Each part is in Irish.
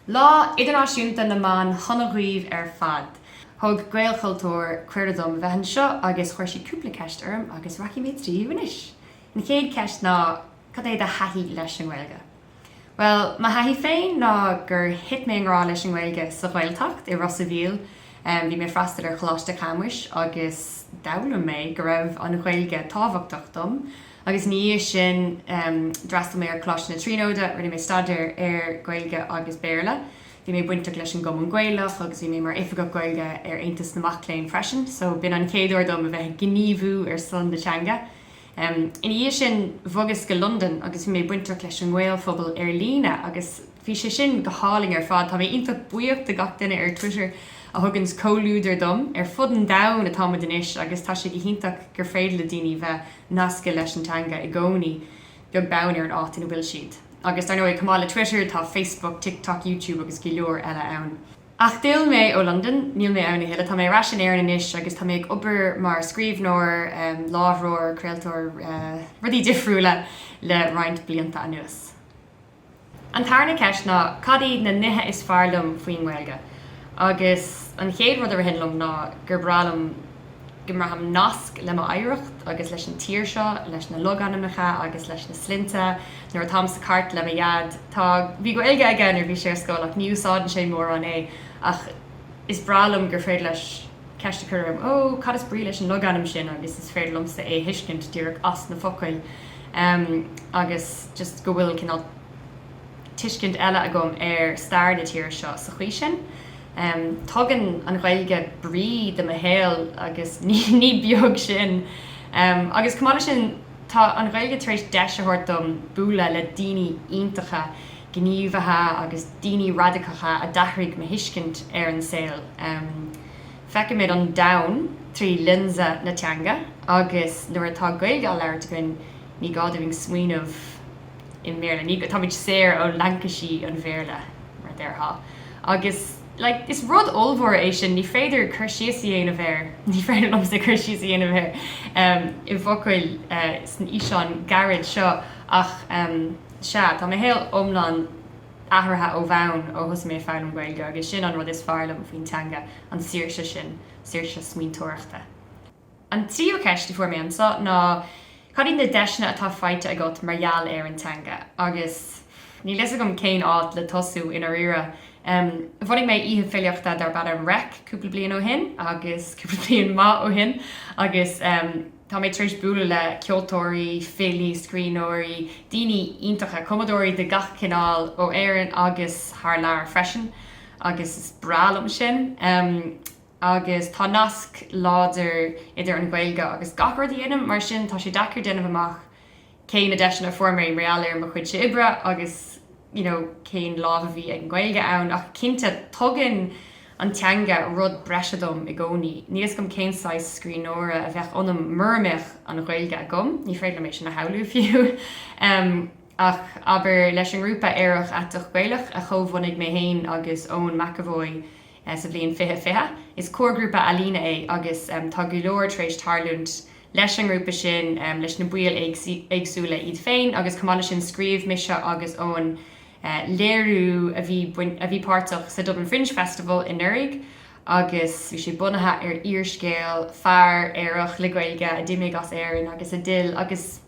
Lá Idirnáisiúnta na mBan sona dhaoibh ar fad! Thug Gaelchultúr cuireadh dom bheith anseo agus chuir siad cúpla ceist orm agus rachaidh mé tríothu anois. An chéad ceist ná cad é do thaithí leis an nGaeilge? Bhuel, mo thaithí féin ná gur thit mé i ngrá leis an nGaeilge sa Ghaeltacht i Ros a' Mhíl. Bhí mé ag freastal ar Choláiste Chamuis agus d'fhoghlaim mé go raibh an Ghaeilge tábhachtach dom. Agus ina dhiaidh sin, d'fhreastail mé ar Choláiste na Tríonóide, rinne mé staidéar ar Ghaeilge agus Béarla. Bhí mé bainteach leis an gCumann Gaelach agus bhí mé mar Oifigeach Gaeilge ar Aontas na Mac Léinn freisin, so b'in an chéad uair dom a bheith ag gníomhú ar son na teanga. Ina dhiaidh sin, bhogas go Londain agus bhí mé bainteach leis an nGaelphobal ar líne agus, Bhí sé sin go hálainn ar fad. Tá mé iontach buíoch de gach duine ar Twitter a thuganns comhluadar dom. Ar fud an domhain atá muid anois agus tá sé go hiontach gur féidir le daoine bheith nasctha leis an teanga i gcónaí, beag beann ar an áit ina bhfuil siad. Agus dar ndóigh, chomh maith le Twitter, tá Facebook, TikTok, YouTube agus go leor eile ann. Ach d'fhill mé ó Londain, níl mé ann a thuilleadh. Tá mé ar ais in Éirinn anois agus tá mé ag obair mar scríbhneoir, léiritheoir, craoltóir, rudaí difriúla le roinnt blianta anuas. An tarna ceist ná cad iad na nithe is fearr liom faoin nGaeilge? Agus an chéad rud a ritheann liom ná gur breá liom go mbraithim nasc le m'oidhreacht agus leis an tír seo, leis na logainmneacha agus leis na sloinnte. Nuair atáim sa charr le mo Dhaid, tá, bhí Gaeilge aige nuair a bhí sé ar scoil ach ní úsáideann sé mórán é, ach is breá liom gur féidir leis ceist a chur orm, 'Ó, cad is brí leis an logainm sin? agus is féidir liomsa é a thuiscint díreach as na focail. agus just go bhfuil cineál tuiscint eile agam ar stair na tíre seo sa chaoi sin. Tugann an Ghaeilge brí do mo shaol agus ní beag sin. Agus chomh maith leis sin, tá an Ghaeilge tar éis deis a thabhairt dom bualadh le daoine iontacha, gníomhaithe agus daoine radacacha a d'athraigh mo thuiscint ar an saol. Feicimid an domhan trí lionsa na teanga agus nuair atá Gaeilge á labhairt againn ní gá dúinn smaoineamh i mBéarla, ní, táimid saor ó laincisí an Bhéarla mar a déarfá agus like is rud ollmhór é sin, ní féidir cur síos a dhéanamh air, ní féidir liomsa cur síos a dhéanamh air i bhfocail san fhíseán gairid seo ach sea, tá mo shaol iomlán. athraithe ó bhonn ó thosaigh mé ag foghlaim Gaeilge agus sin an rud is fearr liom faoin teanga, an saoirse sin, saoirse smaointeoireachta. An tríú ceist a fuair mé anseo ná cad iad na deiseanna atá faighte agat mar gheall ar an teanga agus níl a fhios agam cén áit le tosú, i ndáiríre. Bhunaigh mé oíche filíochta darb ainm Reic cúpla bliain ó shin agus cúpla bliain maith ó shin agus, Tá mé tar éis bualadh le ceoltóirí, filí, scríbhneoirí, daoine iontacha, cumadóirí de gach cineál ó Éirinn agus thar lear freisin agus is breá liom sin. Agus tá nasc láidir idir an Ghaeilge agus gach rud a dhéanaim, mar sin tá sé deacair déanamh amach cé na deiseanna a fuair mé arae mar gheall ar mo chuidse oibre agus you know cén lámh a bhí ag an Ghaeilge ann ach cinnte tugann an teanga rud breise dom i gcónaí. Níl 'fhios agam cén saghas scríbhneora a bheadh ionam mura mbeadh an Ghaeilge agam, ní féidir liom é sin a shamhlú fiú em ach abair leis an ngrúpa Aerach Aiteach Gaelach a chomhbhunaigh mé féin agus Eoin McEvoy sa bhliain fiche fiche, is comharghrúpa ealaíne é agus em tá go leor tar éis tarlúint leis an ngrúpa sin, leis na baill éagsúla iad féin agus chomh maith leis sin scríobh mise agus Eoin léiriú a bhí páirteach sa Dublin Fringe Festival anuraidh agus bhí sé bunaithe ar fhíorscéal fear aerach le Gaeilge a d'imigh as Éirinn agus a d'fhill agus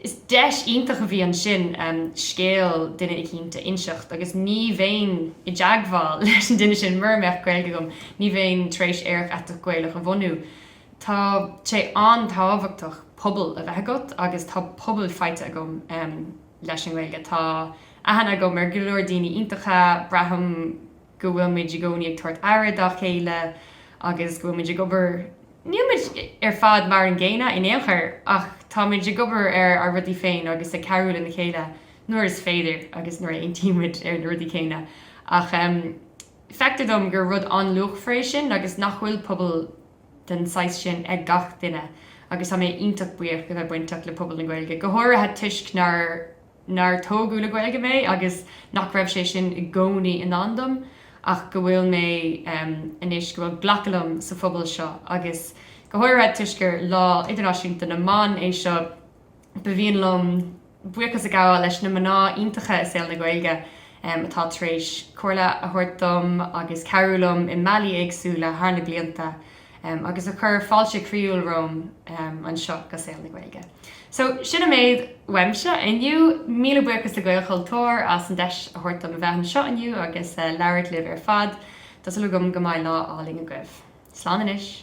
is deis iontach a bhí ansin scéal duine eicínt a inseacht agus ní bheinn i dteagmháil leis an duine sin mura mbeadh Gaeilge agam, ní bheinn tar éis Aerach Aiteach Gaelach a bhunú. Tá sé an-tábhachtach pobal a bheith agat agus tá pobal faighte agam leis an nGaeilge. Tá aithne agam ar go leor daoine iontacha, braithim go bhfuil muid i gcónaí ag tabhairt aire dá chéile agus go bhfuil muid ag obair, níl muid ar fad mar an gcéanna in aon chor ach tá muid ag obair ar ár rudaí féin agus ag cabhrú lena chéile nuair is féidir agus nuair a aontaíonn muid ar na rudaí céanna. Ach. Feictear dom gur rud an-luachmhar é sin agus nach bhfuil pobal den saghas sin ag gach duine agus tá mé iontach buíoch de bheith bainteach le pobal na Gaeilge, go háirithe toisc nár tógadh le Gaeilge mé agus nach raibh sé sin i gcónaí i ndán dom ach go bhfuil mé anois, go bhfuil glacadh liom sa phobal seo agus go háirithe toisc gur Lá Idirnáisiúnta na mBan é seo, Ba mhian liom buíochas a ghabháil leis na mná iontacha i saol na Gaeilge atá tar éis comhairle a thabhairt dom agus cabhrú liom i mbealaí éagsúla thar na blianta agus a chuir fáilte chroíúil romham anseo go saol na Gaeilge. So, sin an méid uaimse inniu. Míle buíochas le Gaelchultúr as an deis a thabhairt dom a bheith anseo inniu agus labhairt libh ar fad. Tá súil agam go mbeidh lá álainn agaibh. Slán anois.